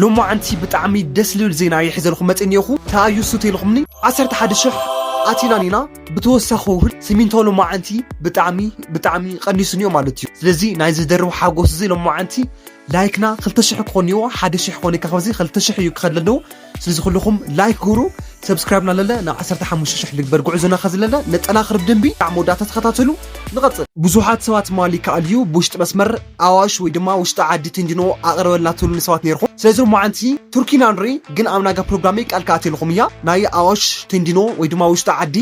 ሎማዓንቲ ብጣዕሚ ደስ ልብል ዜና ይሕዘልኩም መፂእ እኒኤኹ ተኣዩ ሱት ኢልኹምኒ ዓሰርተ ሓደ ሽሕ ኣቲና እኒና ብተወሳኺ እውን ስሚንቶ ሎማዓንቲ ብጣዕሚ ብጣዕሚ ቐኒሱ እኒኦ ማለት እዩ ስለዚ ናይ ዝደርብ ሓጎስ እዚ ሎማዓንቲ ላይክና ክልተ ሽሕ ክኾን እኒኦ ሓደ ሽሕ ክኾን እካ ካብዚ ክልተ ሽሕ እዩ ክኸድ ለለዎ ስለዚ ኩልኹም ላይክ ግብሩ ሰብስክራይብና ለለ ናብ ዓሰርተ ሓሙሽተ ሽሕ ልግበር ጉዕዞና ከዚ ለለ ነጠናኽር ብደንቢ ብጣዕሚ መወዳእታ ተኸታተሉ ንቐፅል ብዙሓት ሰባት ትማሊ ይከኣል እዩ ብውሽጢ መስመር ኣዋሽ ወይ ድማ ውሽጢ ዓዲ ቴንዲኖ ኣቕርበልና ትብሉ ንሰባት ነርኹም ስለዚ ሞዓንቲ ቱርኪና ንርኢ ግን ኣብ ናጋ ፕሮግራመይ ቃል ክኣትየልኹም እያ ናይ ኣዋሽ ቴንዲኖ ወይ ድማ ውሽጢ ዓዲ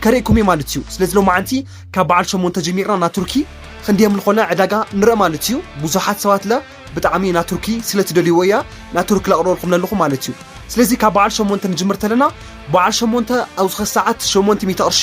ከርእኩም እየ ማለት እዩ ስለዚ ሎማዓንቲ ካብ በዓል ሸሞንተ ጀሚርና እና ቱርኪ ክንደየም ንኾነ ዕዳጋ ንርኢ ማለት እዩ ብዙሓት ሰባት ለ ብጣዕሚ እና ቱርኪ ስለ ትደልይዎ እያ እና ቱርኪ ለቕርበልኩም ለለኹ ማለት እዩ ስለዚ ካብ በዓል ሸሞንተ ንጅምር ተለና በዓል ሸሞንተ ኣብ ዝኸ ሰዓት ሸሞንቲ ሚእቲ ቅርሺ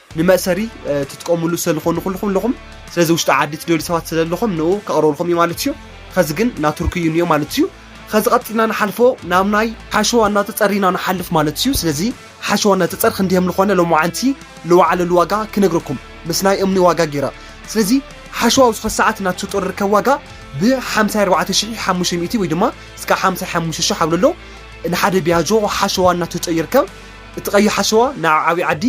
ንመእሰሪ ትጥቀምሉ ሰለኾኑ ኩልኹም ለኹም ስለዚ ውሽጢ ዓዲ ትደልዩ ሰባት ሰለለኹም ንኡ ከቕርበልኹም እዩ ማለት እዩ ኸዚ ግን ናቱርኪ እዩ ኒኦ ማለት እዩ ኸዚ ቐጺልና ንሓልፎ ናብ ናይ ሓሸዋ እናተጸር ኢና ንሓልፍ ማለት እዩ ስለዚ ሓሸዋ እናተጸር ኽንዲሀም ልኾነ ሎምዓንቲ ልዋዓለሉ ዋጋ ክነግረኩም ምስ ናይ እምኒ ዋጋ ጌረ ስለዚ ሓሸዋ ኣብዚ ኸዚ ሰዓት ናቱጦር ርከብ ዋጋ ብ ሓምሳይ ኣርባዕተ ሽሒ ሓሙሽተ ሚእቲ ወይ ድማ እስካ ሓምሳይ ሓሙሽተ ሽሕ ኣብለሎ ንሓደ ቢያጆ ሓሸዋ እናቱጦ ይርከብ እቲ ቐይሕ ሓሸዋ ንኣብ ዓብይ ዓዲ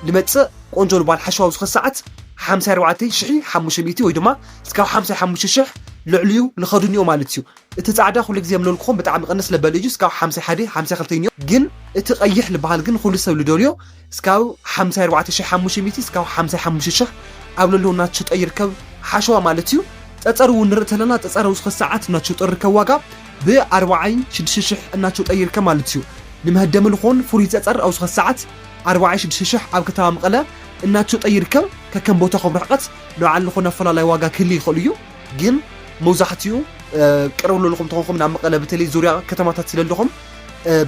ልመጽእ ቆንጆ ልጓል ሓሸዋዊ ዝኸ ሰዓት ሓምሳይ ኣርባዕተይ ሽሒ ሓሙሽተ ሚእቲ ወይ ድማ ስጋብ ሓምሳይ ሓሙሽተ ሽሕ ልዕሊኡ ልኸዱ እኒኦ ማለት እዩ እቲ ጻዕዳ ኩሉ ግዜ ምለልኩኹም ብጣዕሚ ቅንስ ለበል እዩ ስጋብ ሓምሳይ ሓደ ሓምሳይ ክልተ እኒኦ ግን እቲ ቀይሕ ልበሃል ግን ኹሉ ሰብ ልደልዮ ስጋብ ሓምሳይ ኣርባዕተ ሽሒ ሓሙሽተ ሚእቲ ስጋብ ሓምሳይ ሓሙሽተ ሽሕ ኣብ ለለዉ ናትሽጦ ይርከብ ሓሸዋ ማለት እዩ ጸጸር እውን ንርኢ ተለና ጸጸር ውስኸ ሰዓት ናትሽጦ ይርከብ ዋጋ ብኣርባዓይ ሽድሽተ ሽሕ እናትሽጦ ይርከብ ማለት እዩ ንመህደሚ ልኾን ፍሉይ ጸጸር ኣውስኸ ሰዓት ኣርባዓይ ሽዱሽተ ሽሕ ኣብ ከተማ መቐለ እናተሸጠ ይርከብ። ከከም ቦታ ከም ርሕቐት ንባዕሉ ዝኾነ ኣፈላላይ ዋጋ ክህሊ ይኽእሉ እዩ። ግን መብዛሕትኡ ቅርብ ለልኹም ተኾንኩም ናብ መቐለ በተለይ ዙርያ ከተማታት ስለለኹም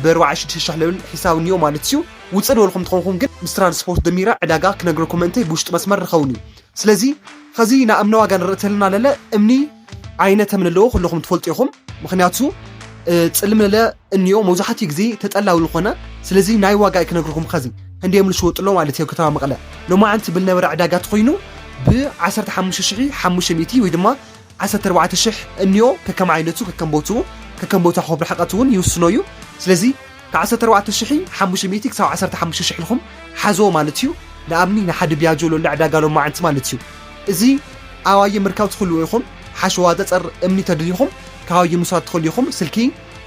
ብኣርባዓይ ሽዱሽተ ሽሕ ልብል ሒሳብ እኒኦ ማለት እዩ። ውፅእ ልበልኹም ተኾንኩም ግን ምስ ትራንስፖርት ደሚረ ዕዳጋ ክነግረኩም ምእንተይ ብውሽጢ መስመር ርኸቡኒ። ስለዚ ኸዚ ንኣምኒ ዋጋ ንርኢ ተለና ለለ እምኒ ዓይነተ ምልልኦ ኩለኹም ትፈልጡ ኢኹም ምክንያቱ ጽልምለለ እንዮ መብዛሕትኡ ግዜ ተጠላዊ ዝኾነ ስለዚ ናይ ዋጋ ክነግርኩም ከዚ ክንደዮም ዝሽወጥሎ ማለት እዮ ከተማ መቐለ ሎማዓንቲ ብል ነበረ ዕዳጋ ትኾይኑ ብ15500 ወይ ድማ 14000 እንዮ ከከም ዓይነቱ ከከም ቦትኡ ከከም ቦታ ኮብ ርሕቀት እውን ይውስኖ እዩ ስለዚ ካብ ዓሰርተ ኣርባዕተ ሽሕ ሓሙሽተ ሚእቲ ክሳብ ዓሰርተ ሓሙሽተ ሽሕ ኢልኩም ሓዝዎ ማለት እዩ። ንኣብኒ ንሓደ ቢያጆ ሎለ ዕዳጋ ሎማዓንቲ ማለት እዩ። እዚ ኣባየ ምርካብ ትኽልኡ ኢኹም? ሓሸዋ ጸጸር እምኒ ተደሊኹም ካባየ ምውሳድ ትኽልኡ ኢኹም። ስልኪ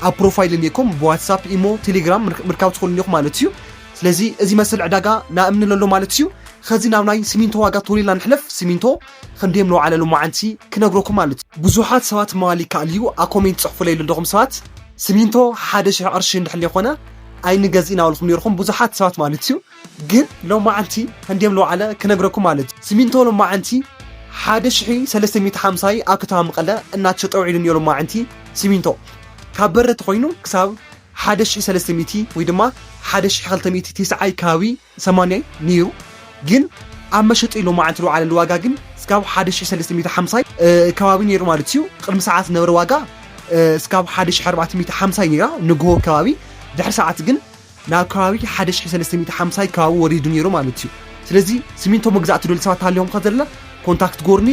ኣብ ፕሮፋይል እኒኤኩም ብዋትሳፕ ኢሞ ቴሌግራም ምርካብ ትኽልኒ ኢኹም ማለት እዩ። ስለዚ እዚ መሰል ዕዳጋ ንኣብኒ ለሎ ማለት እዩ። ኸዚ ናብ ናይ ሲሚንቶ ዋጋ ቶሎ ኢልና ንሕለፍ። ሲሚንቶ ኽንደይ ምንውዓለሉ ማዓንቲ ክነግረኩም ኣሉት። ቡዙሓት ሰባት ምባል ይካኣል እዩ ኣብ ኮሜንት ፅሕፉለይ ለለኹም ሰባት ስሚንቶ ሓደ ሽሕ ቕርሺ እንድሕሌ ኾነ ኣይንገዝእን ኣበልኹም ነይርኹም ቡዙሓት ሰባት ማለት እዩ ግን ሎማዓንቲ ኽንደይ ምንውዓለ ክነግረኩም ኣሉት ስሚንቶ ሎማዓንቲ ሓደ ሽሒ ሰለስተ ሚእቲ ሓምሳ እዩ ኣብ ከተማ መቐለ እናተሸጠ ውዒሉ እንዮ ሎማዓንቲ ስሚንቶ ካብ በረቲ ኾይኑ ክሳብ ሓደ ሽሒ ሰለስተ ሚእቲ ወይ ድማ ሓደ ሽሒ ኽልተ ሚእቲ ቴስዓይ ከባቢ ሰማንያይ ነይሩ ግን ኣብ መሸጢ ሎማዓንቲ ልውዓለሉ ዋጋ ግን ስጋብ ሓደ ሽሕ ሰለስተ ሚእቲ ሓምሳይ ከባቢ ነይሩ ማለት እዩ ቅድሚ ሰዓት ዝነበረ ዋጋ ስጋብ ሓደ ሽሕ ኣርባዕተ ሚእቲ ሓምሳይ ነይራ ንግሆ ከባቢ ድሕሪ ሰዓት ግን ናብ ከባቢ ሓደ ሽሕ ሰለስተ ሚእቲ ሓምሳይ ከባቢ ወሪዱ ነይሩ ማለት እዩ ስለዚ ስሚንቶ መግዛእ ትደልዩ ሰባት ሃልዮም ከዘለ ኮንታክት ጎርኒ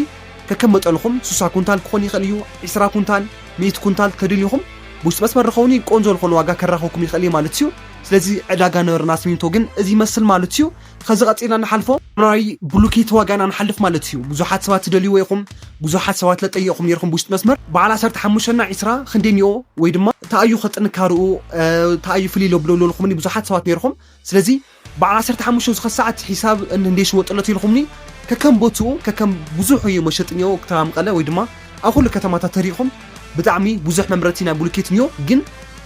ከከም መጠንኹም ሱሳ ኩንታል ክኾን ይኽእል እዩ ዕስራ ኩንታል ሚእቲ ኩንታል ተደልዩኹም ብውሽጢ መስመር ርኸውኒ ቆንጆ ዝኾነ ዋጋ ከራኸኩም ይኽእል እየ ማለት እዩ ስለዚ ዕዳጋ ነበርና ስሚንቶ ግን እዚ ይመስል ማለት እዩ ከዚ ቀጺልና ንሓልፎ። ናይ ብሉኬት ዋጋ ኢና ንሓልፍ ማለት እዩ ብዙሓት ሰባት ትደልይዎ ኢኹም ብዙሓት ሰባት ለጠየቕኹም ኔርኩም ብውሽጢ መስመር በዓል ዓሰርተ ሓሙሽተ እና ዕስራ ክንደይ እኒኦ ወይ ድማ ታይ እዩ ከጥንካርኡ ታይ እዩ ፍልይ ለብሎ ለልኩምኒ ብዙሓት ሰባት ኔርኹም ስለዚ በዓል ዓሰርተ ሓሙሽተ ዝኸ ሰዓት ሒሳብ እንዴ ሽወጥለት ኢልኹምኒ ከከም ቦትኡ ከከም ብዙሕ እዩ መሸጢ እኒኦ ክተራ መቐለ ወይ ድማ ኣብ ኩሉ ከተማታት ተሪኢኩም ብጣዕሚ ቡዙሕ መምረቲ ናይ ቡሉኬት እንዮ ግን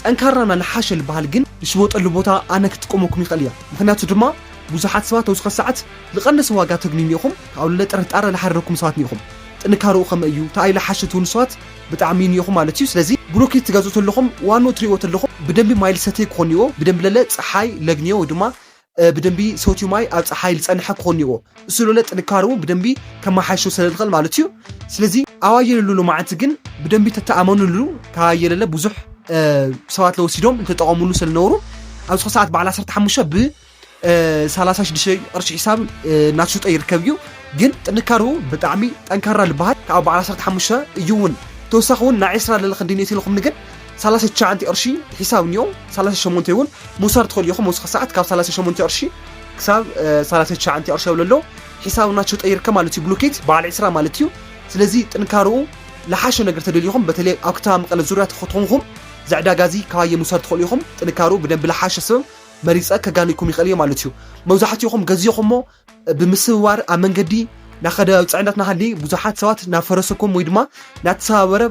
ጠንካራ እና ልሓሸ ልባሃል ግን ልሽወጠሉ ቦታ ኣነ ክጥቀመኩም ይክእል እየ ምክንያቱ ድማ ቡዙሓት ሰባት ኣብዝከ ሳዓት ልቀነሰ ዋጋ ተግንዩኒ ኢኩም ካብኡ ልለ ጥርጣረ ልሓደረኩም ሰባት እንኩም ጥንካረኡ ከመይ እዩ ታኣይ ልሓሸ ትብሉ ሰባት ብጣዕሚ እንዮ ኢኩም ማለት እዩ ስለዚ ቡሉኬት ትገዝኡ ተለኩም ዋንኡ ትሪእዎ ተለኩም ብደንቢ ማይ ልሰተይ ክኮን እንዮ ብደንቢ ለለ ጸሓይ ለግንዮ ወይ ድማ ብደንቢ ሰትዩ ማይ ኣብ ፀሓይ ልፀነሐ ክኾን እኒኦዎ እሱለለ ጥንካረኡ ብደንቢ ከማሓይሾ ሰለልኸል ማለት እዩ ስለዚ ኣዋየለሉ ሎማዓንቲ ግን ብደንቢ ተተኣመኑሉ ካየለለ ብዙሕ ሰባት ለወሲዶም ልተጠቐሙሉ ሰለነበሩ ኣብ ዝኾ ሰዓት በዓል ዓሰርተ ሓሙሽተ ብ ሰላሳ ሽዱሽተ ቅርሺ ሒሳብ እናተሸጦ ይርከብ እዩ ግን ጥንካረኡ ብጣዕሚ ጠንካራ ልበሃል ካብ በዓል ዓሰርተ ሓሙሽተ እዩ እውን ተወሳኺ እውን ናይ ዕስራ ለለ ክንዲ ኔት ኢልኹምኒ ግን ሰላሳ ትሽዓንተ ቅርሺ ሒሳብ እኒኦ ሰላሳ ሸሞንተ እውን ምውሳድ ትኽእሉ ኢኹም ወስኺ ሰዓት ካብ ሰላሳ ሸሞንተ ቅርሺ ክሳብ ሰላሳ ትሽዓንተ ቅርሺ የብለ ኣሎ ሒሳብ ናቸው ጠይርከ ማለት እዩ ብሎኬት በዓል ዕስራ ማለት እዩ ስለዚ ጥንካረኡ ለሓሸ ነገር ተደሊኹም በተለይ ኣብ ከተማ መቐለ ዙርያ ተኸትኾንኹም እዚ ዕዳጋ እዚ ካባየ ምውሳድ ትኽእሉ ኢኹም ጥንካረኡ ብደንቢ ለሓሸ ሰብ መሪፀ ከጋንኩም ይኽእል እየ ማለት እዩ መብዛሕትኹም ገዚኹሞ ብምስውዋር ኣብ መንገዲ ናኸደ ፅዕነት ናሃሊ ብዙሓት ሰባት ናብ ፈረሰኩም ወይ ድማ ናተሰባበረ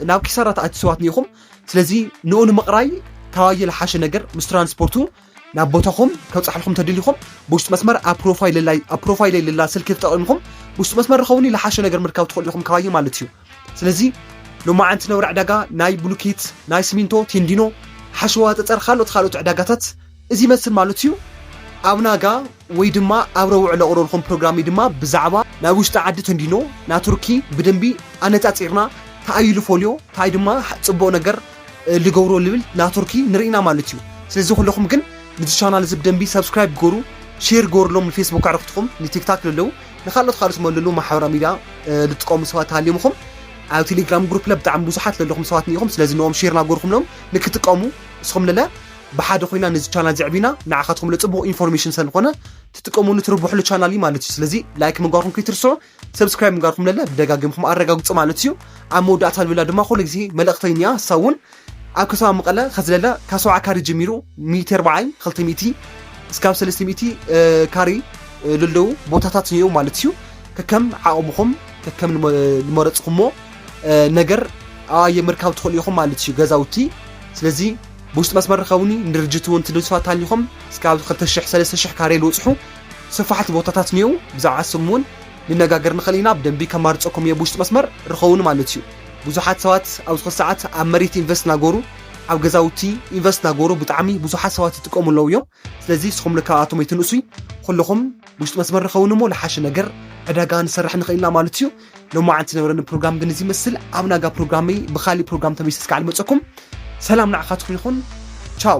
ናብ ኪሳራ ተኣቲ ሰባት ኒኢኹም ስለዚ ንኡ ንምቕራይ ካባየ ልሓሸ ነገር ምስ ትራንስፖርቱ ናብ ቦታኹም ከብፅሓልኹም ተደሊኹም ብውሽጢ መስመር ኣብ ፕሮፋይለይ ልላ ስልኪ ተጠቒምኹም ብውሽጢ መስመር ርኸቡኒ ልሓሸ ነገር ምርካብ ትኽእሉ ኢኹም ካባየ ማለት እዩ። ስለዚ ሎማዓንቲ ነብሪ ዕዳጋ ናይ ብሉኬት ናይ ስሚንቶ ቴንዲኖ ሓሸዋ ጠጠር ካልኦት ካልኦት ዕዳጋታት እዚ ይመስል ማለት እዩ። ኣብ ናጋ ወይ ድማ ኣብ ረቡዕ ለቕርበልኩም ፕሮግራምይ ድማ ብዛዕባ ናይ ውሽጢ ዓዲ ተንዲኖ ናይ ቱርኪ ብደንቢ ኣነጻጺርና ታኣዩ ልፎልዮ ታይ ድማ ጽቡቕ ነገር ልገብሮ ልብል ናይ ቱርኪ ንርኢና ማለት እዩ። ስለዚ ኩለኹም ግን ንዚ ቻናል እዚ ብደንቢ subscribe ግበሩ ሼር ግበርሎም ንፌስቡክ ኣዕርኽትኹም ንቲክታክ ለለው ንካልኦት ካልኦት ዝመልሉ ማሕበራዊ ሚድያ ዝጥቀሙ ሰባት ተሃሊምኹም ኣብ ቴሌግራም ግሩፕ ለ ብጣዕሚ ብዙሓት ዘለኹም ሰባት ኒኹም ስለዚ ንኦም ሼር ናጎርኩምሎም ንክጥቀሙ እስኹም ንለ ብሓደ ኮይና ነዚ ቻናል ዘዕቢና ንዓኻትኩም ለጽቡቕ ኢንፎርሜሽን ሰልኾነ ትጥቀሙሉ ትርብሕሉ ቻናል እዩ ማለት እዩ ስለዚ ላይክ ምግባርኩም ከይትርስዑ ሰብስክራይብ ምግባርኩም ለለ ብደጋጊምኩም ኣረጋግጹ ማለት እዩ ኣብ መወዳእታ ልብላ ድማ ኩሉ ግዜ መልእኽተይን እያ እሳ እውን ኣብ ከተማ መቐለ ከዝለለ ካብ ሰብዓ ካሪ ጀሚሩ ሚእቲ ኣርባዓይ ክልተ ሚእቲ እስካብ ሰለስተ ሚእቲ ካሪ ልለው ቦታታት እዮም ማለት እዩ ከከም ዓቕምኹም ከከም ልመረፅኹሞ ነገር ኣየ ምርካብ ትኽእሉ ኢኹም ማለት እዩ ገዛውቲ ስለዚ ብውሽጢ መስመር ርከቡኒ ንድርጅት እውን ትንስፋ ታሊኹም እስካብ ክልተ ሽሕ ሰለስተ ሽሕ ካሬ ልውፅሑ ስፋሕቲ ቦታታት እኒው ብዛዕባ ስም እውን ንነጋገር ንኽእል ኢና ብደንቢ ከማርፀኩም እየ ብውሽጢ መስመር ርከቡኒ ማለት እዩ ብዙሓት ሰባት ኣብዚ ሰዓት ኣብ መሬት ኢንቨስት ናገሩ ኣብ ገዛውቲ ኢንቨስት ናገሩ ብጣዕሚ ብዙሓት ሰባት ይጥቀሙ ኣለዉ እዮም ስለዚ ንስኹም ካብኣቶም ኣይትንእሱ ኩልኹም ውሽጢ መስመር ንኸውን እሞ ልሓሸ ነገር ዕዳጋ ንሰርሕ ንኽእል ኢና ማለት እዩ ሎማዓንቲ ዝነበረኒ ፕሮግራም ግን እዚ ይመስል ኣብ ናጋ ፕሮግራመይ ብካሊእ ፕሮግራም ተመልሰ እስካዕ ልመፀኩም ሰላም ንዓኻትኩም ይኹን ቻው